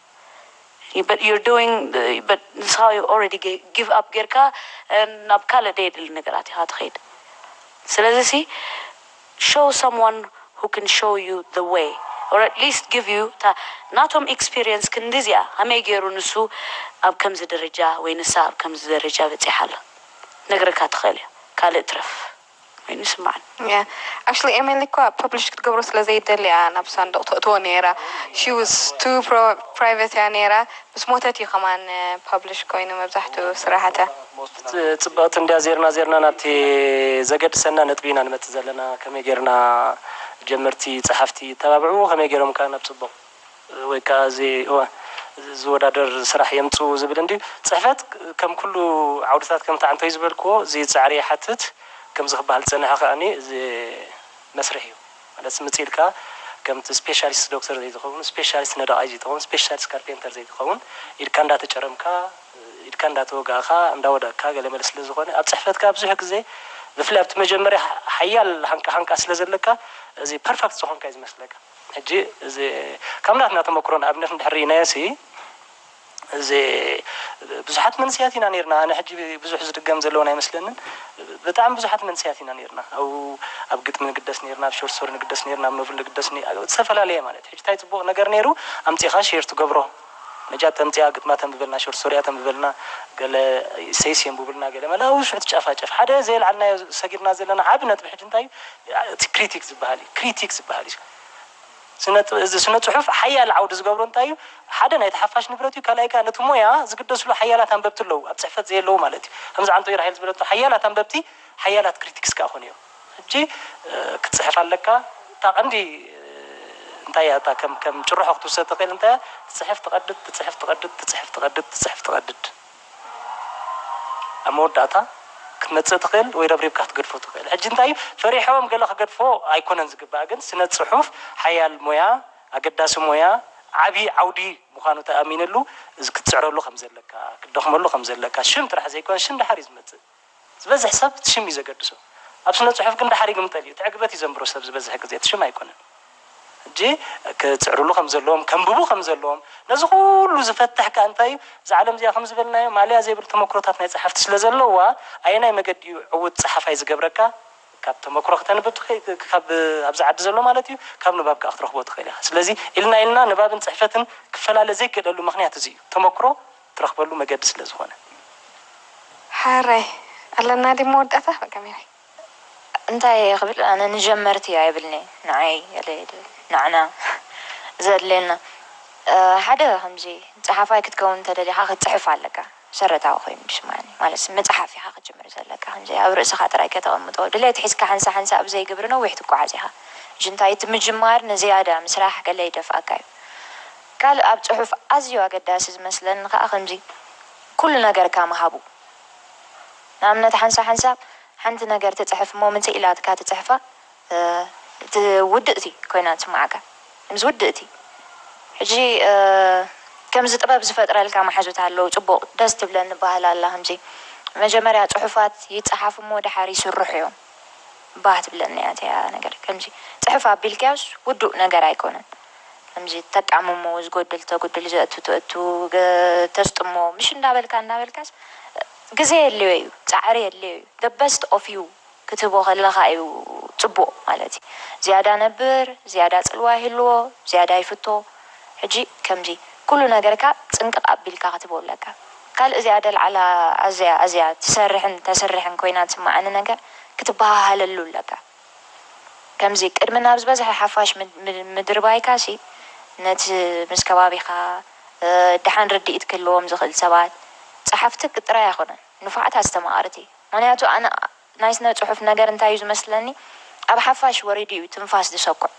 ዩር ዱዊንግ በት ንስኻ ኦረዲ ጊቭ ኣፕ ጌርካ ናብ ካልእ ደየድሊ ነገራት ኢኻ ትኸይድ ስለዚ ሲ ሾው ሳምዋን ሁ ክን ሾው ዩ ዘ ዌይ ኦር ኣትሊስት ጊቭ ዩ እታ ናቶም ኤክስፒርየንስ ክንዲ እዚኣ ሀመይ ጌሩ ንሱ ኣብ ከምዚ ደረጃ ወይ ንሳ ኣብ ከምዚ ደረጃ በጺሓ ኣላ ክነግረካ ትኽእል እያ ካልእ ትረፍ ኮይኑ ይስማዓኒ። Yeah actually ኤሜሊ እኳ ፐብሊሽ ክትገብሮ ስለ ዘይደሊ እያ ናብ ሳንዱቅ ተእትዎ ነይራ she was too private እያ ነይራ ምስ ሞተት እዩ ከማን ፐብሊሽ ኮይኑ መብዛሕትኡ ስራሓታ። ጽብቅቲ እንድያ ዜርና ዜርና ናብቲ ዘገድሰና ነጥቢ ኢና ንመጽእ ዘለና ከመይ ጌርና ጀመርቲ ጸሓፍቲ ይተባብዑ ከመይ ጌሮም ከ ናብ ጽቡቅ። ወይ ከኣ እዚ እወ ዝወዳደር ስራሕ የምጽኡ ዝብል እንድዩ። ጽሕፈት ከም ኩሉ ዓውድታት ከምቲ ዓንተይ ዝበልክዎ እዚ ጻዕሪ ይሓትት። ከምዚ ክበሃል ዝጸንሐ ከኣኒ እዚ መስርሕ እዩ። ማለት ስምጽ ኢልካ ከምቲ ስፔሻሊስት ዶክተር ዘይትኸውን፣ ስፔሻሊስት ነዳቓይ ዘይትኸውን፣ ስፔሻሊስት ካርፔንተር ዘይትኸውን ኢድካ እንዳተጨረምካ፣ ኢድካ እንዳተወጋእካ፣ እንዳወደቕካ ገለ መለ ስለ ዝኾነ ኣብ ጽሕፈት ከኣ ብዙሕ ግዜ ብፍላይ ኣብቲ መጀመርያ ሓያል ሃንቃ ሃንቃ ስለ ዘለካ እዚ ፐርፈክት ዝኾንካ እዩ ዝመስለካ። ሕጂ እዚ ካብ ናትና ተመክሮን ኣብነት እንድሕር ርኢናዮሲ እዚ ብዙሓት መንስያት ኢና ኔርና ኣነ ሕጂ ብዙሕ ዝድገም ዘለዎን ኣይመስለንን ብጣዕሚ ብዙሓት መንስያት ኢና ኔርና ኣብኡ ኣብ ግጥሚ ንግደስ ኔርና ኣብ ሾርት ሶሪ ንግደስ ኔርና ኣብ ኖቭል ንግደስ ዝተፈላለዩ ማለት ሕጂ ታይ ጽቡቅ ነገር ኔሩ ኣምጺኻ ሼር ትገብሮ መጃት ተምጽኣ ግጥማ ተንብበልና ሾርት ስቶሪኣ ተንብበልና ገለ ኢሰይስ የንቡብልና ገለ መለ ኣብኡ ሽዑ ትጫፋጨፍ ሓደ ዘየልዓልናዮ ሰጊርና ዘለና ዓቢ ነጥቢ ሕጂ እንታይ እዩ እቲ ክሪቲክ ዝብሃል እዩ ክሪቲክ ዝብሃል እዩ ስነ እዚ ስነ ጽሑፍ ሓያል ዓውዲ ዝገብሮ እንታይ እዩ ሓደ ናይቲ ሓፋሽ ንብረት እዩ ካልኣይ ከኣ ነቲ ሞያ ዝግደስሉ ሓያላት ኣንበብቲ ኣለዉ ኣብ ጽሕፈት ዘየለዉ ማለት እዩ ከምዚ ዓንቶ ኢራሄል ዝበለቶ ሓያላት ኣንበብቲ ሓያላት ክሪቲክስ ከኣ ኮኑ እዮም ሕጂ ክትጽሕፍ ኣለካ እታ ቀንዲ እንታይ እያ እታ ከም ከም ጭርሖ ክትውሰድ ትኽእል እንታይ እያ ትጽሕፍ ትቐድድ ትጽሕፍ ትቐድድ ትጽሕፍ ትቐድድ ትጽሕፍ ትቐድድ ኣብ መወዳእታ ክትመጽእ ትኽእል ወይ ረብሪብካ ክትገድፎ ትኽእል ሕጂ እንታይ እዩ ፈሪሖም ገለ ክገድፎ ኣይኮነን ዝግባእ ግን ስነ ጽሑፍ ሓያል ሞያ ኣገዳሲ ሞያ ዓቢ ዓውዲ ምዃኑ ተኣሚንሉ ክትጽዕረሉ ከም ዘለካ ክትደኽመሉ ከም ዘለካ ሽም ጥራሕ ዘይኮነስ ሽም ድሓር እዩ ዝመጽእ ዝበዝሕ ሰብ እቲ ሽም እዩ ዘገድሶ ኣብ ስነ ጽሑፍ ግን ድሓር ይግምጠል እዩ እቲ ዕግበት እዩ ዘንብሮ ሰብ ዝበዝሕ ግዜ እቲ ሽም ኣይኮነን ሕጂ ክጽዕርሉ ከም ዘለዎም ከንብቡ ከም ዘለዎም ነዚ ኩሉ ዝፈትሕ ከኣ እንታይ እዩ እዛ ዓለም እዚኣ ከም ዝበልናዮ ማልያ ዘይብል ተመክሮታት ናይ ጸሓፍቲ ስለ ዘለዋ ኣየናይ መገዲ እዩ ዕውት ጸሓፋይ ዝገብረካ ካብ ተመክሮ ክተንብብ ትኽእል ካብ ኣብዚ ዓዲ ዘሎ ማለት እዩ ካብ ንባብ ከኣ ክትረኽቦ ትኽእል ኢኻ ስለዚ ኢልና ኢልና ንባብን ጽሕፈትን ክፈላለ ዘይክእለሉ ምኽንያት እዚ እዩ ተመክሮ ትረኽበሉ መገዲ ስለ ዝኾነ። ሐራይ ኣለና ድዩ መወዳእታ በቃ ሜሪ። እንታይ እየ ክብል ኣነ ንጀመርቲ ኣይብልንየ ንዓይ ገለ እየ ድብል ንዓና ዘድልየና ሓደ ከምዚ ጸሓፋይ ክትከውን እንተደሊኻ ክትጽሕፍ ኣለካ መሰረታዊ ኮይኑ ዝስማዓኒ ማለት ምጽሓፍ ኢኻ ክትጅምር ዘለካ ከምዚ ኣብ ርእስኻ ጥራይ ከተቐምጦ ድሌት ሒዝካ ሓንሳእ ሓንሳእ ኣብ ዘይግብሪ ነዊሕ ትጎዓዝ ኢኻ እጂ እንታይ እቲ ምጅማር ንዝያዳ ምስራሕ ገለ ይደፍኣካ እዩ ካልእ ኣብ ጽሑፍ ኣዝዩ ኣገዳሲ ዝመስለኒ ከኣ ከምዚ ኩሉ ነገር ካም ሃቡ ንኣብነት ሓንሳ ሓንሳብ ሓንቲ ነገር ትጽሕፍ እሞ ምጽእ ኢላትካ ትጽሕፋ እቲ ውድእቲ ኮይና ትስምዓካ ምስ ውድእቲ ሕጂ ከምዚ ጥበብ ዝፈጥረልካ መሓዙት ኣለዉ ጽቡቅ ደስ ትብለኒ ባህል ኣላ ከምዚ መጀመርያ ጽሑፋት ይጽሓፉ እሞ ደሓር ይስርሑ እዮም ባህ ትብለኒ እያ እቲኣ ነገር ከምዚ ጽሕፍ ኣቢልካዮስ ውዱእ ነገር ኣይኮነን ከምዚ ተጣምሞ ዝጎድል ተጉድል ዘእቱ ትእቱ ተስጥሞ ምሽ እንዳበልካ እንዳበልካስ ግዜ የድልዮ ኢዩ ጻዕሪ የድልዮ ኢዩ the best of you ክትህቦ ከለኻ ኢዩ ጽቡቅ ማለት ኢዩ ዝያዳ ነብር ዝያዳ ጽልዋ ይህልዎ ዝያዳ ይፍቶ ሕጂ ከምዚ ኩሉ ነገርካ ጽንቅቅ ኣቢልካ ክትህቦ ኣለካ ካልእ እዚኣ ደልዓላ ኣዝያ ኣዝያ ትሰርሕን ተስርሕን ኮይና ትስማዓኒ ነገር ክትበሃሃለሉ ኣለካ ከምዚ ቅድሚ ናብ ዝበዝሐ ሓፋሽ ምድርባይካሲ ነቲ ምስ ከባቢኻ ደሓን ርድኢት ክህልዎም ዝኽእል ሰባት፣ ጸሓፍቲ ጥራይ ኣይኮነን፣ ንፉዓት ኣስተማቐርቲ። ምኽንያቱ ኣነ ናይ ስነ ጽሑፍ ነገር እንታይ እዩ ዝመስለኒ ኣብ ሓፋሽ ወሪዱ እዩ ትንፋስ ዝሰኩዕ።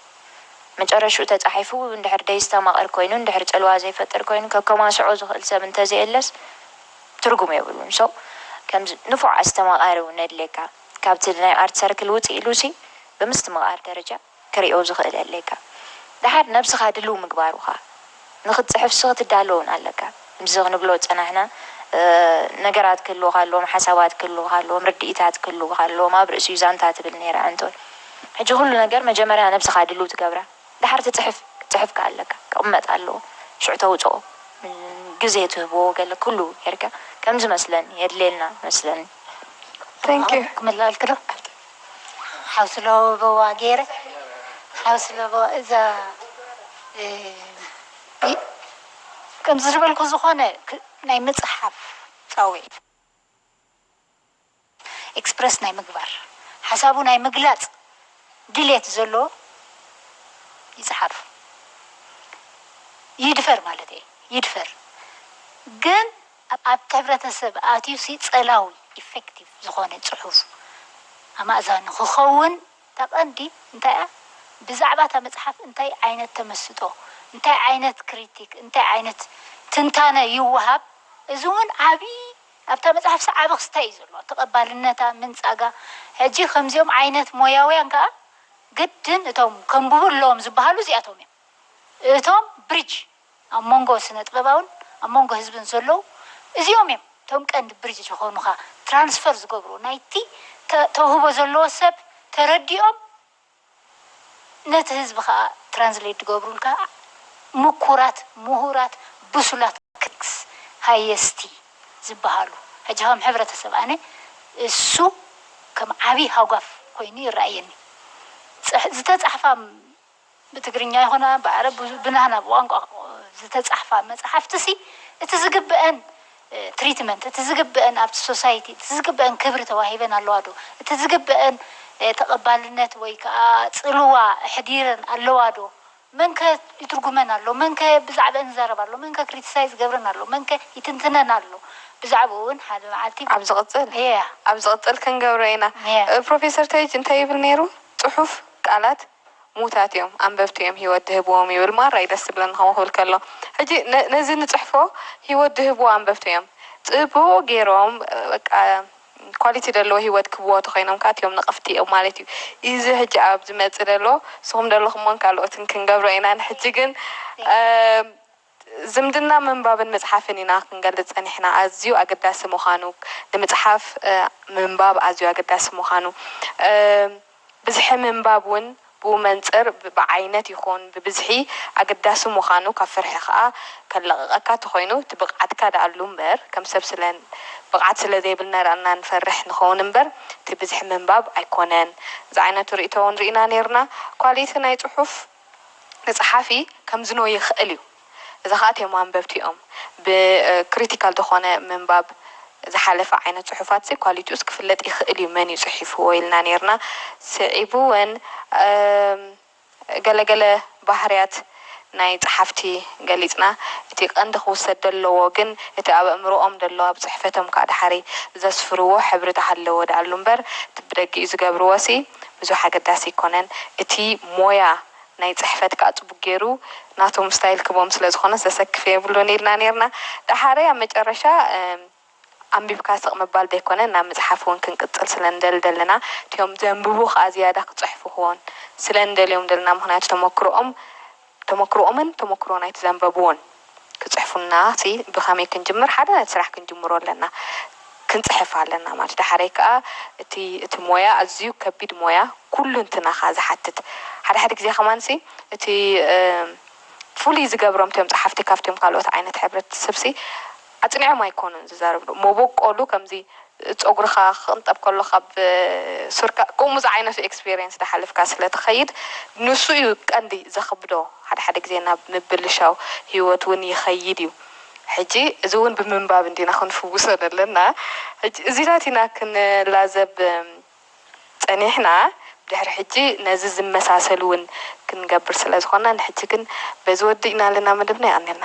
መጨረሽኡ ተጻሒፉ እንድሕር ደይስተማቕር ኮይኑ እንድሕር ጽልዋ ዘይፈጥር ኮይኑ ከከማስዖ ዝኽእል ሰብ እንተዘየለስ ትርጉም የብሉን። so ከምዚ ንፉዕ ኣስተማቓሪ እውን የድልየካ። ካብቲ ናይ ኣርት ሰርክል ውጽእ ኢሉሲ ብምስትምቓር ደረጃ ክሪኦ ዝኽእል የድልየካ። ደሓር ነብስኻ ድልው ምግባሩኻ ንኽትጽሕፍሲ ክትዳሎ ውን ኣለካ። ምስዚ ክንብሎ ዝጸናሕና ነገራት ክህልዉኻ ኣለዎም፣ ሓሳባት ክህልዉኻ ኣለዎም፣ ርድኢታት ክህልዉኻ ኣለዎም፣ ኣብ ርእሲኡ ዛንታ ትብል ነይራ ኣንቶን። ሕጂ ኩሉ ነገር መጀመርያ ነብስኻ ድልው ትገብራ። ደሓር እቲ ጽሕፍ ጽሑፍ ከኣ ኣለካ ክቅመጥ ኣለዎ ሽዑ ተውጽኦ ግዜ ትህቦ ገለ ኩሉ ጌርካ ከምዚ መስለኒ የድልየና መስለኒ Thank you ክምለኣልኪ ዶ ሓውሲ ለበዋ ጌረ ሓውሲ ለበዋ እዛ ከምዚ ዝበልኩ ዝኮነ ናይ ምጽሓፍ ጻዊዒት። ኤክስፕረስ ናይ ምግባር፣ ሓሳቡ ናይ ምግላጽ ድሌት ዘሎዎ ይጽሓፍ። ይድፈር ማለተይ ይድፈር ግን ኣብቲ ሕብረተሰብ ኣትዩሲ ጸላዊ፣ ኢፈክቲቭ፣ ዝኾነ ጽሑፍ ኣማእዛኒ ክኸውን እታ ቀንዲ እንታይ'ያ ብዛዕባ እታ መጽሓፍ እንታይ ዓይነት ተመስጦ፣ እንታይ ዓይነት ክሪቲክ፣ እንታይ ዓይነት ትንታነ ይወሃብ እዚ'ውን ዓቢ ኣብታ መጽሓፍሲ ዓቢ ክስታይ እዩ ዘሎዋ፣ ተቐባልነታ ምንጻጋ። ሕጂ ከምዚኦም ዓይነት ሞያውያን ከኣ ግድን እቶም ከንብቡ ኣለዎም ዝበሃሉ እዚኣቶም እዮም። እቶም ብሪጅ ኣብ መንጎ ስነጥበባውን ኣብ መንጎ ህዝብን ዘሎዉ እዚኦም እዮም፣ እቶም ቀንዲ ብሪጅ ዝኾኑኻ፣ ትራንስፈር ዝገብሩ ናይቲ ተውህቦ ዘሎዎ ሰብ ተረዲኦም ነቲ ህዝቢ ከኣ ትራንስሌት ድገብሩልካ ምኩራት ሙሁራት ብሱላት ክክክስ ሃየስቲ ዝባሃሉ ሕጂ ከም ሕብረተሰብ ኣነ እሱ ከም ዓቢ ሃጓፍ ኮይኑ ይራኣየኒ ጽሕ ዝተጻሕፋ ብትግርኛ ይኹና ብዓረብ ብናህና ብቋንቋ ዝተጻሕፋ መጻሕፍትሲ እቲ ዝግበኣን ትሪትመንት እቲ ዝግበእን ኣብቲ ሶሳይቲ እቲ ዝግበእን ክብሪ ተዋሂበን ኣለዋ ዶ? እቲ ዝግበእን ተቐባልነት ወይ ከኣ ጽልዋ ኣሕዲረን ኣለዋ ዶ? መን ከ ይትርጉመን ኣሎ? መን ከ ብዛዕበእን ይዛረብ ኣሎ? መን ከ ክሪቲሳይዝ ይገብረን ኣሎ? መን ከ ይትንትነን ኣሎ? ብዛዕብኡ እውን ሓደ መዓልቲ። ኣብ ዝቕጽል ኣብ ዝቕጽል ክንገብሮ ኢና። ፕሮፌሰር ተይጅ እንታይ ይብል ነይሩ? ጽሑፍ ቃላት ሙታት እዮም ኣንበብቲ እዮም ሂወት ድህብዎም ይብል ማራይ ደስ ዝብለኒ ከምኡ ክብል ከሎ ሕጂ ነዚ ንጽሕፎ ሂወት ድህብዎ ኣንበብቲ እዮም ጽቡቅ ጌሮም በቃ ኳሊቲ ደለዎ ሂወት ክህብዎ ተኮይኖም ከኣ እቲኦም ነቀፍቲ እዮም ማለት እዩ ኢዚ ሕጂ ኣብ ዝመጽእ ደሎ ንስኩም ደለኩሞን ካልኦትን ክንገብሮ ኢና ንሕጂ ግን ዝምድና ምንባብን ምጽሓፍን ኢና ክንገልጽ ጸኒሕና ኣዝዩ ኣገዳሲ ምዃኑ ንምጽሓፍ ምንባብ ኣዝዩ ኣገዳሲ ምዃኑ ብዝሒ ምንባብ ውን ብኡ መንጽር ብዓይነት ይኹን ብብዝሒ ኣገዳሲ ምዃኑ ካብ ፍርሒ ከኣ ከለቕቐካ ተኾይኑ እቲ ብቕዓትካ ደኣሉ እምበር ከም ሰብ ስለ ብቕዓት ስለ ዘይብልና ደኣ እና ንፈርሕ ንኸውን እምበር እቲ ብዝሒ ምንባብ ኣይኮነን ዝዓይነቱ ርእይቶ ውን ርኢና ኔርና ኳሊቲ ናይ ጽሑፍ ንጸሓፊ ከምዝኖ ይኸእል እዩ። እዚ ከኣ እቲም ኣንበብቲኦም ብ ክሪቲካል ዝኾነ ምንባብ ዝሓለፈ ዓይነት ጽሑፋትሲ ኳሊቲኡስ ክፍለጥ ይኸእል እዩ መን እዩ ጽሒፍዎ ኢልና ኔርና ስዒቡ ወን ገለ ገለ ባህርያት ናይ ጸሓፍቲ ገሊጽና እቲ ቀንዲ ክውሰድ ደለዎ ግን እቲ ኣብ ኣእምሮኦም ደሎ ኣብ ጽሕፈቶም ከኣ ደሓሪ ዘስፍርዎ ሕብሪ ተሃለዎ ደኣሉ እምበር እቲ ብደጊኡ ዝገብርዎሲ ብዙሕ ኣገዳሲ ኣይኮነን እቲ ሞያ ናይ ጽሕፈት ከኣ ጽቡቅ ጌሩ ናቶም ስታይል ክቦም ስለ ዝኮነስ ዘሰክፍ የብሉን ኢልና ኔርና ደሓረይ ኣብ መጨረሻ ኣንቢብካ ስቅ ምባል ዘይኮነ ናብ ምጽሓፍ ውን ክንቅጽል ስለ ንደሊ ደለና እቲኦም ዘንብቡ ከኣ ዝያዳ ክጽሕፉክዎን ስለ ንደልዮም ደለና ምክንያቱ ተመክሮኦም ተሞክሮኦምን ተሞክሮ ናይቲ ዘንበብዎን ክጽሕፉልና ሲ ብከመይ ክንጅምር ሓደ ነቲ ስራሕ ክንጅምሮ ኣለና ክንጽሕፍ ኣለና ማለት ዳሓረይ ከኣ እቲ እቲ ሞያ ኣዝዩ ከቢድ ሞያ ኩሉንትናኻ ዝሓትት ሓደ ሓደ ግዜ ከማን ሲ እቲ ፍሉይ ዝገብሮም እቶም ጸሓፍቲ ካብቶም ካልኦት ዓይነት ሕብረተሰብ ሲ ኣጽኒዖም ኣይኮኑን ዝዛረብሉ መቦቆሉ ከምዚ ጾጉርካ ክቅንጠብ ከሎ ካብ ሱርካ ከምኡ ዝዓይነቱ ኤክስፔርየንስ ዳሓለፍካ ስለ ትከይድ ንሱ እዩ ቀንዲ ዘክብዶ ሓደ ሓደ ግዜ ናብ ምብልሻው ሂወት ውን ይከይድ እዩ ሕጂ እዚ ውን ብምንባብ እንዲና ክንፍውሶ ዘለና ሕጂ እዚታት ኢና ክንላዘብ ጸኒሕና ድሕሪ ሕጂ ነዚ ዝመሳሰል ውን ክንገብር ስለ ዝኾንና ንሕጂ ግን በዚ ወዲእና ኣለና መደብና የቀንየልና።